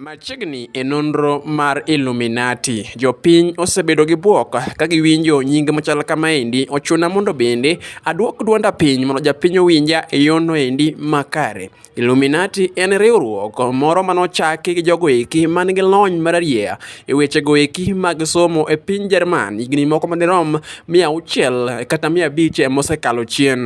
Machiegni e nonro mar Illuminati, jopiny osebedo gi bwok ka giwinjo nying machal kamaendi. Ochuna mondo bende adwok dwonda piny mondo japiny owinja e yono endi makare. Illuminati en riwruok moro mane ochaki gi jogo eki man gi lony mararieya e wechego eki mag somo e piny Jerman higni moko madirom mia auchiel kata mia abich mosekalo chien.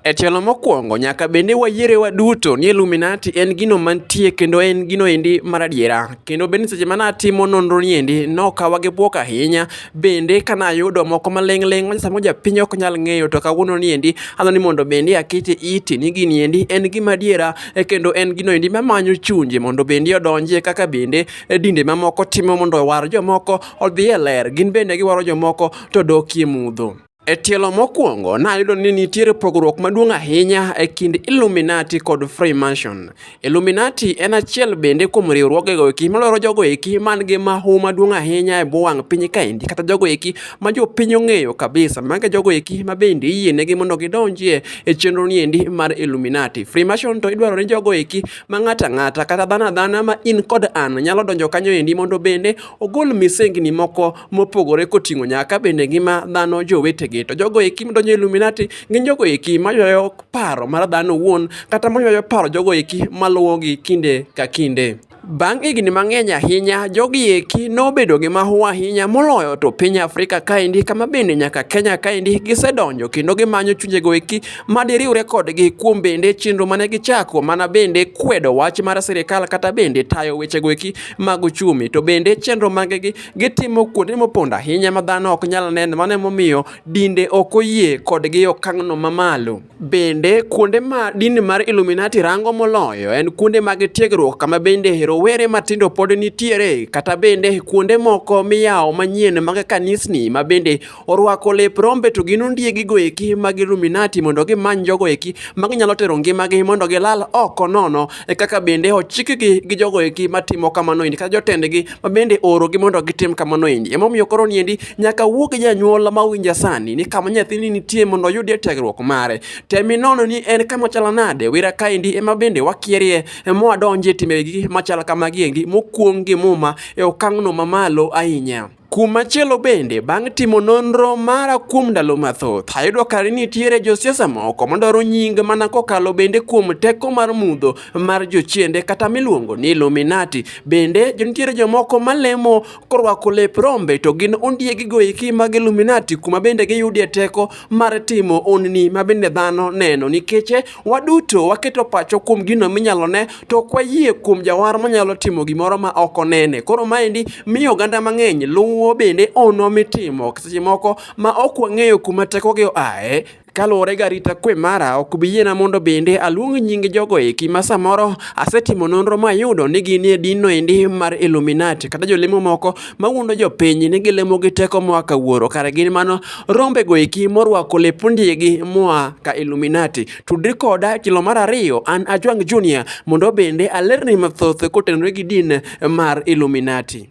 E tielo mokwongo, nyaka bende wayiere waduto ni Illuminati en gino mantie kendo en gino endi maradiera. Kendo bende seche mana atimo nonro ni endi nokawa gi bwok ahinya. Bende kana ayudo moko maling' ling' ma sama japiny ok nyal ng'eyo to kawuono ni endi adwa ni mondo bende akete iti ni gini endi en gima adiera e kendo en gino endi mamanyo chunje mondo bende odonjie kaka bende e dinde mamoko timo mondo owar jomoko odhi e ler. Gin bende giwaro jomoko to dokie mudho. E tielo mokwongo, nayudo ni nitiere pogruok maduong' ahinya e kind Illuminati kod Freemason. Illuminati en achiel bende kuom riwruogego eki malwaro jogo eki man gi mahu maduong' ahinya e bwo wang' piny kaendi kata jogo eki ma jopiny ong'eyo kabisa mago jogo eki ma bende iyienegi mondo gidonjie e chenro ni endi mar Illuminati. Freemason to idwaro ni jogo eki ma ng'ato ang'ata kata dhano adhana ma in kod an nyalo donjo kanyo endi mondo bende ogol misengni moko mopogore koting'o nyaka bende ngima dhano jowetegi. To jogo eki madonjo e Illuminati gin jogo eki maywayo paro mar dhano owuon kata maywayo paro jogo eki maluwogi kinde ka kinde. Bang' higni mang'eny ahinya, jogi eki nobedo gi mahu ahinya moloyo to piny Afrika kaendi kama bende nyaka Kenya kaendi gisedonjo kendo gimanyo chunjego eki ma diriwre kodgi kuom bende chenro mane gichako mana bende kwedo wach mar sirikal kata bende tayo wechego eki mag uchumi to bende chenro magegi gitimo kuonde mopondo ahinya ma dhano ok nyal neno mano emomiyo dinde ok oyie kodgi okang'no mamalo. Bende kuonde ma dini mar Illuminati rango moloyo en kuonde mag tiegruok kama bende rowere matindo pod nitiere kata bende kuonde moko miyawo manyien mag kanisni ma bende orwako lep rombe to gin ondiegi goeki mag Illuminati mondo gimany jogo eki ma ginyalo tero ngimagi mondo gilal oko nono e kaka bende ochikgi gi jogo eki matimo kamano endi kata jotendgi ma bende oorogi mondo gitim kamano endi emomiyo koro niendi nyaka wuog gi janyuol ma owinja sani ni kama nyathini nitie mondo oyudie tiegruok mare temi nono ni en kama chalo nade wira kaendi ema bende wakierie mwadonje timbegi machal kamagi endi mokuong' gi muma e okang'no mamalo ahinya Kumachielo bende, bang' timo nonro mara kuom ndalo mathoth, ayudo ka nitiere josiasa moko madwaro nying mana kokalo bende kuom teko mar mudho mar jochiende kata miluongo ni Illuminati. Bende nitiere jomoko malemo korwako lep rombe to gin ondiegi goeki mag Illuminati kuma bende giyudie teko mar timo onni ma bende dhano neno nikech Waduto waketo pacho kuom gino minyalo ne to ok wayie kuom jawar manyalo timo gimoro ma ok onene. Koro maendi miyo oganda mang'eny luwo bende ono mitimo seche moko ma ok wang'eyo kuma tekogi oae kaluwore ga rita kwe mara ok bi yiena mondo bende aluong nying jogo eki ma samoro asetimo nonro mayudo ni gin e dinno endi mar Illuminati kata jolemo moko mawuondo jopiny ni gilemo gi teko moa ka wuoro kare gin mano rombe go eki morwako lep ondiegi moa ka illuminati tudri koda kilo mar ariyo an ajwang junior mondo bende alerni mathoth kotenore gi din mar illuminati